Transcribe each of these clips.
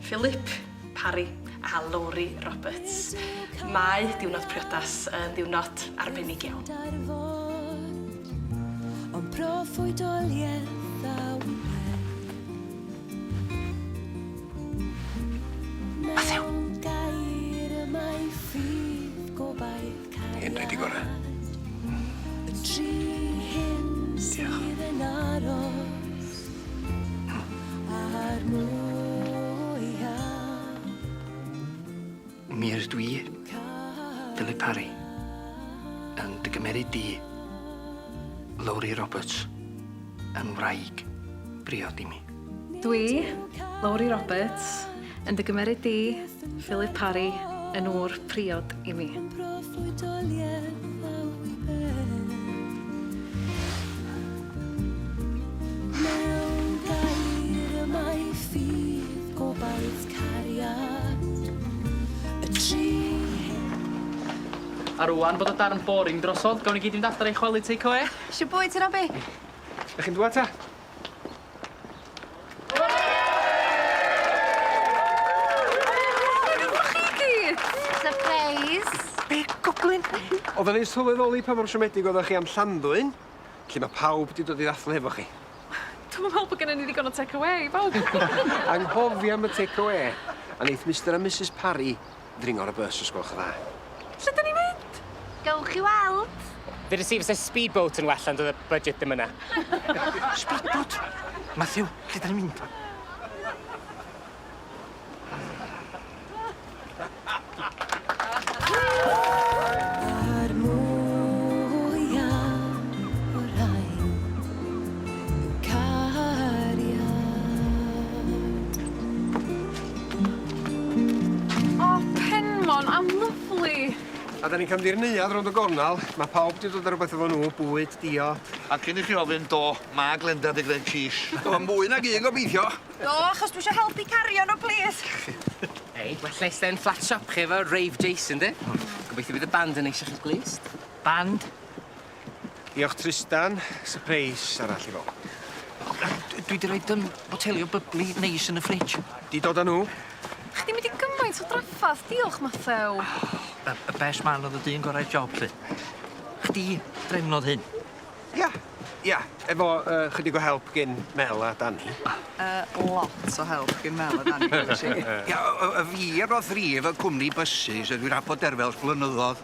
Philip, Parry a Lowri Roberts. Mae diwrnod priodas yn ddiwrnod arbennig iawn. Ond proffwydoliaeth a wyddai. Mathew! Mewn gair y mae ffydd gobaith. Hyn rhaid i gorau. Mi ydw i, Philip Parry, yn dy gymeryd di, Lowri Roberts, yn wraig briod i mi. Dwi, Lowri Roberts, yn dy gymeryd di, Philip Parry, yn ŵr priod i mi. Yn broffwydoliaeth ddaw i ben. Mewn gair y mae ffydd, gobaith, cariad, y tri hen. A rŵan bod y darn boring drosodd, gawn ni gyd fynd adra i chwalu takeawê? Shwt bwyd ti Robbie? Dach chi'n dwad ta? Odda ni'n sylweddoli pa mor siomedig oddach chi am Llanddwyn, lle ma' pawb 'di dod i ddathlu hefo chi. Dwi'm yn me'wl bo' gynnon ni ddigon o tecawê i bawb. Anghofio am y tecawê. A neith Mister a Misus Parry Ddringo ar y bws os gwelwch yn dda. Lle da ni'n mynd? Gewch chi weld. Ddydes i fyse speedboat yn well ond oedd y budget ddim yna. Speedboat? Matthew, lle da ni'n mynd? O Penmon, a lyfli! A 'dan ni'n cefndir neuadd rownd y gornal, ma' pawb 'di dod â rwbeth efo nhw, bwyd, diod. A cyn i chi ofyn, do, ma' Glenda 'di gneud quiche. Do, mwy nag un gobeithio! Do, achos dwi isio helpu cario nhw, plîs! Hei, ma' lle ste'n fflat siop chi efo rave Jason, 'di? Gobeithio bydd y band yn neis i chi'n glust. Band? Diolch Trystan. Sypreis arall i bawb. Dwi 'di roid yym boteli o bybli neis yn y fridge. 'Di dod â nhw? Chdi mynd i gymaint o draffarth, diolch Mathew. Y y best man o'dd y dyn gorau'r job 'lly. Chdi drefnodd hyn? Ia, ia, efo yy chydig o help gin Mel a Dani. Yy lot o help gin Mel a Dani nesh i. Ia, yy yy fi roth rif y cwmni bysus a dwi 'r 'ave bod er fel blynyddodd.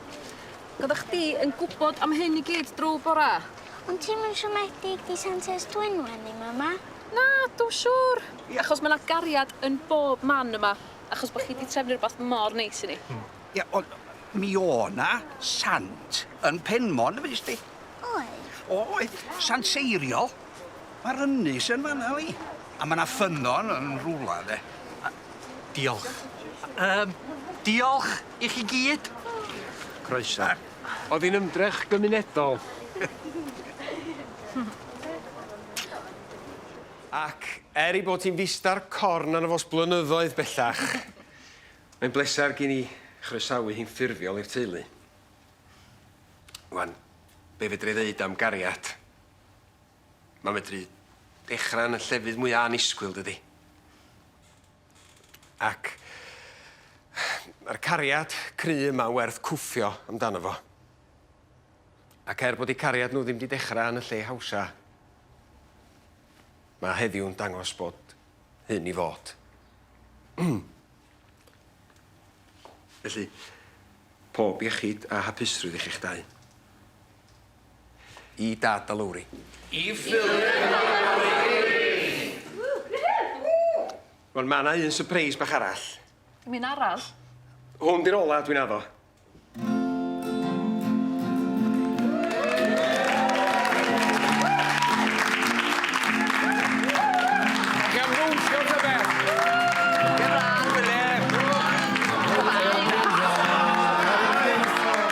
Oddach chdi yn gwbod am hyn i gyd drw bora? Ond ti'm yn siomedig di Santes Dwynwen ddim yma. Na dw siŵr. Ia. Achos ma' 'na gariad yn bob man yma. Achos bo' chi 'di trefnu rwbath mor neis i ni. Hmm. Ia ond mi o' 'na sant yn Penmon yn fues di? Oedd. O oedd. Sant seiriol. Ma'r ynys yn fan 'na yli. A ma' 'na ffynnon yn rwla de. A Diolch. Yym, diolch i chi gyd. Croeso. O'dd 'i'n ymdrech gymunedol. Ac er ei bod hi'n fis-dar corn arno fo 's blynyddoedd bellach, mae'n bleser gin i chroesawu hi'n ffurfiol i'r teulu. Wan, be' fedra i ddeud am gariad? Ma'n medru dechra yn y llefydd mwya annisgwyl, dydi? Ac ma'r cariad cry yma'n werth cwffio amdano fo. Ac er bod 'u cariad nhw ddim 'di dechra yn y lle hawsa, ma' heddiw'n dangos bod hyn i fod. Felly, pob iechyd a hapusrwydd i chi'ch dau. I Dad a Lowri. I Philip a Lowri! Wel ma' 'na un sypreis bach arall. Dim un arall? Hwn 'di'r ola dwi'n addo.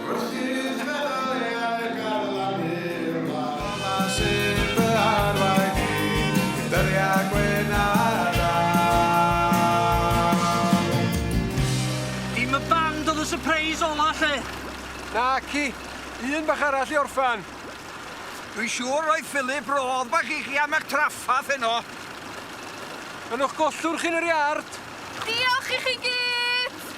Rhydd meddal e ar garlamu'r wlad. Dyma sydd fy arwain i, i ddyddiau gwyn a dal. Dim y band oedd y surprise ola 'lly! Naci, un bach arall i orffan. Dwi'n siŵr roedd Philip rodd bach i chi am eich traffath heno. Yn o'ch gollwr chi yn yr iard! Diolch i chi gyd!